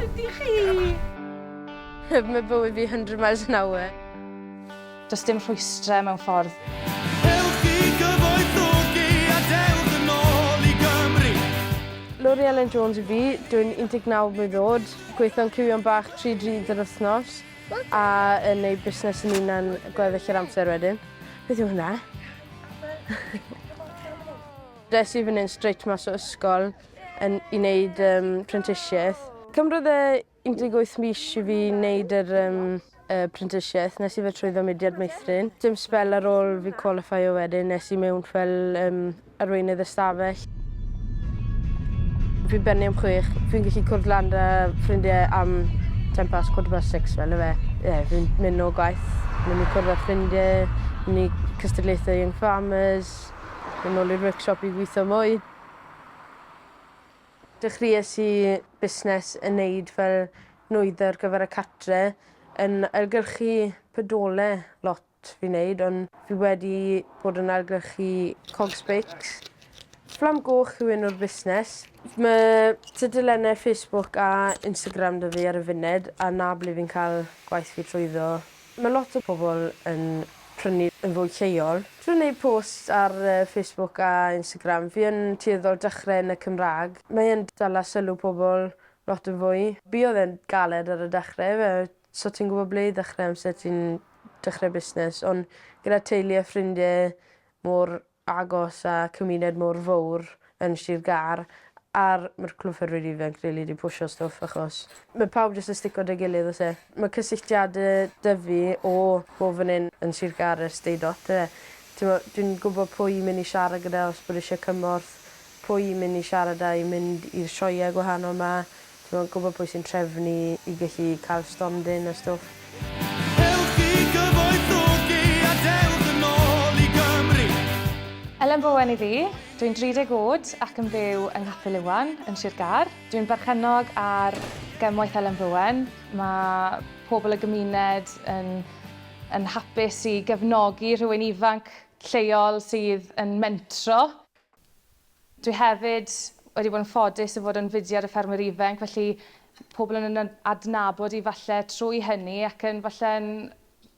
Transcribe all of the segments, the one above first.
ydy chi? Mae bywyd fi 100 miles an hour. Does dim rhwystrau mewn ffordd. Lori Ellen Jones i fi, dwi'n 19 mlwydd oed, gweithio'n cywion bach tri dri yr wythnos. a yn neud busnes yn unan gweddill yr amser wedyn. Beth yw hwnna? Des i fan hyn straight mas o ysgol yn, i wneud um, prentisiaeth. Cymrodd e 18 mis i fi wneud yr um, y prentisiaeth. Nes i fe trwyddo mudiad meithrin. Dim spel ar ôl fi qualifio wedyn nes i mewn fel um, arweinydd ystafell. Fi'n bennu am chwech. Fi'n gallu cwrdd lan 'da ffrindie am ten past quarter past six fel yfe. Ie fi'n myn' nôl gwaith myn' i cwrdd â ffrindie myn' i cystadlaethe Young Farmers myn' nôl i'r workshop i gwitho mwy. Dechries i busnes yn neud fel nwyddau ar gyfer y cartre yn ailgylchu pedole lot. lot fi'n neud ond fi wedi bod yn ailgylchu cogs beics. Fflam Goch yw enw'r busnes. Mae tudalennau Facebook a Instagram 'da fi ar y funud a 'na ble fi'n cael gwaith fi trwyddo. Mae lot o pobl yn prynu yn fwy lleol. Trwy neud posts ar Facebook a Instagram fi yn tueddol dechrau yn y Cymraeg. Mae e'n dala sylw pobl lot yn fwy. Buodd e'n galed ar y dechrau, fe So ti'n gwbo ble i ddechre amser ti'n dechre busnes on' gyda teulu a ffrindie mor agos a cymuned mor fowr yn Sir Gâr a'r ma'r Clwb Ffermwyr Ifanc rili 'di pwsio stwff achos ma' pawb jyst yn stico 'da gilydd o's e? Ma' cysylltiade 'da fi o bob fan 'yn yn Sir Gâr ers deud ots yfe? T'mo' dwi'n gwbo pwy i myn' i siarad gyda os bod isie cymorth, pwy i myn' i siarad â i mynd i'r sioeau gwahanol 'ma. Ti mo'n gwybod pwy sy'n trefnu i gallu cael stondin a stwff. Ewch i gyfoethogi a dewch yn ôl i Gymru! Elen Bowen yw fi. Dwi'n 30 oed ac yn byw yng Nghapel Iwan yn Sir Gâr. Dwi'n berchennog ar Gemwaith Elen Bowen. Mae pobl y gymuned yn yn hapus i gefnogi rhywun ifanc lleol sydd yn mentro. Dwi hefyd wedi bod yn ffodus o fod yn fudiad y Ffermwyr Ifainc, felly pobl yn yn adnabod i falle trwy hynny ac yn falle'n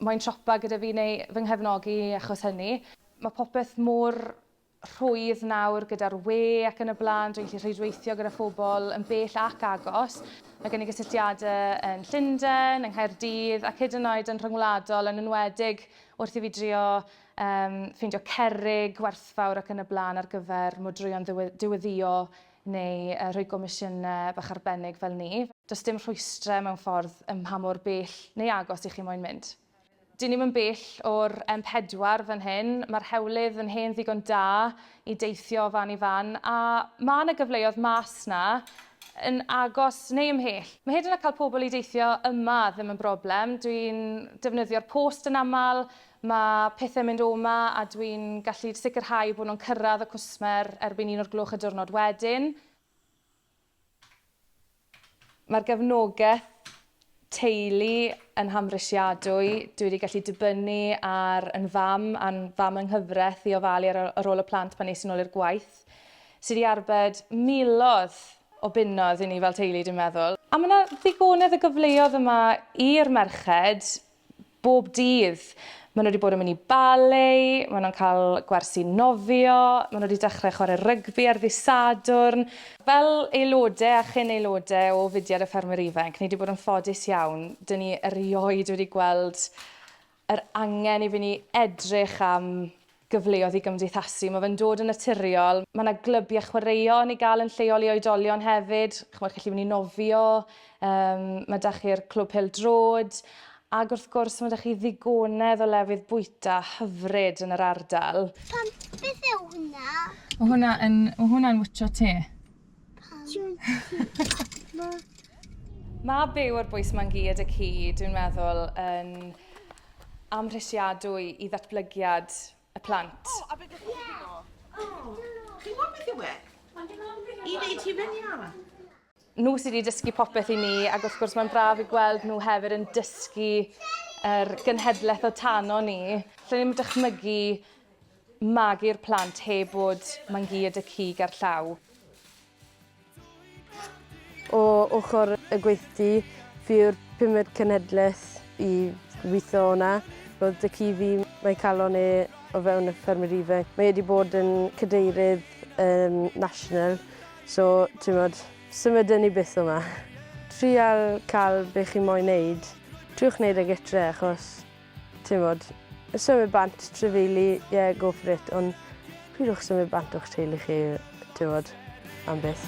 moyn siopa gyda fi neu fy nghefnogi achos hynny. Mae popeth mor rhwydd nawr gyda'r we ac yn y blaen, dwi'n gallu rhwydweithio gyda phobl yn bell ac agos. Mae gen i gysylltiadau yn Llundain, yng Nghaerdydd ac hyd yn oed yn rhyngwladol yn enwedig wrth i fi drio Yym, ffeindio cerrig, gwerthfawr ac yn y blaen ar gyfer modrwyon ddiwe- diweddio neu yy rhoi gomisiyne bach arbennig fel ni. Does dim rhwystre mewn ffordd ym mha mor bell neu agos i chi moyn mynd. Dyn ni'm yn bell o'r M pedwar fan hyn, mae'r hewlydd yn hen ddigon da i deithio o fan i fan a ma' 'na gyfleoedd mas 'na yn agos neu ymhell. Mae hyd yn oed cael pobl i deithio yma ddim yn broblem, dwi'n defnyddio'r post yn aml, Mae pethau'n mynd o 'ma a dwi'n gallu sicrhau bod nhw'n cyrraedd y cwsmer erbyn un o'r gloch y diwrnod wedyn. Mae'r gefnogaeth teulu yn hamhrisiadwy. Dwi wedi gallu dibynnu ar yn fam a'n fam yng nghyfraith i ofalu ar ar ôl y plant pan es i'n ôl i'r gwaith, sydd wedi arbed miloedd o bunnoedd i ni fel teulu dwi'n meddwl. A mae 'na ddigonedd o gyfleoedd yma i'r merched bob dydd. Maen nhw wedi bod yn mynd i ballet, maen nhw'n cael gwersi nofio, maen nhw wedi dechrau chwarae rygbi ar ddydd Sadwrn. Fel aelodau a chyn-aelodau o fudiad y Ffermwyr Ifanc, ni wedi bod yn ffodus iawn. Dŷn ni erioed wedi gweld yr angen i fynd i edrych am gyfleoedd i gymdeithasu. Mae fe'n dod yn naturiol. Mae yna glybiau chwaraeon i gael yn lleol i oedolion hefyd. Chimod, chi'n gallu mynd i nofio, um, mae da chi'r clwb pel drod, ac wrth gwrs mae da chi ddigonedd o lefydd bwyta hyfryd yn yr ardal. Pam, beth yw hwnna? Mae hwnna yn, hwnna'n wytio te. Mae byw ar bwys ma'n gyd y ci, dwi'n meddwl, yn amhrisiadwy i ddatblygiad y plant. O, a beth ydych chi'n meddwl? Chi'n gwybod beth yw e? I wneud ti fyny, Anna? Nhw sydd wedi dysgu popeth i ni, ac wrth gwrs mae'n braf i gweld nhw hefyd yn dysgu yr genhedlaeth o tano ni. Lle ni'n dychmygu magu'r plant heb fod mangi y dŷ cig a'r llaw. O ochr y gweithdy fi yw'r pumed cenhedlaeth i weithio o'na. Roedd dŷ ci fi, mae calon e o fewn y ffermydd ifanc. Mae e wedi bod yn cadeirydd um, national, so ti'n modd, symudwn ni byth o'ma. Trial cael be chi moyn neud. Triwch neud e gytre achos Timod, symud bant, trafeili, ie, go for it, ond pidwch symud bant o'ch teulu chi, timod, am byth.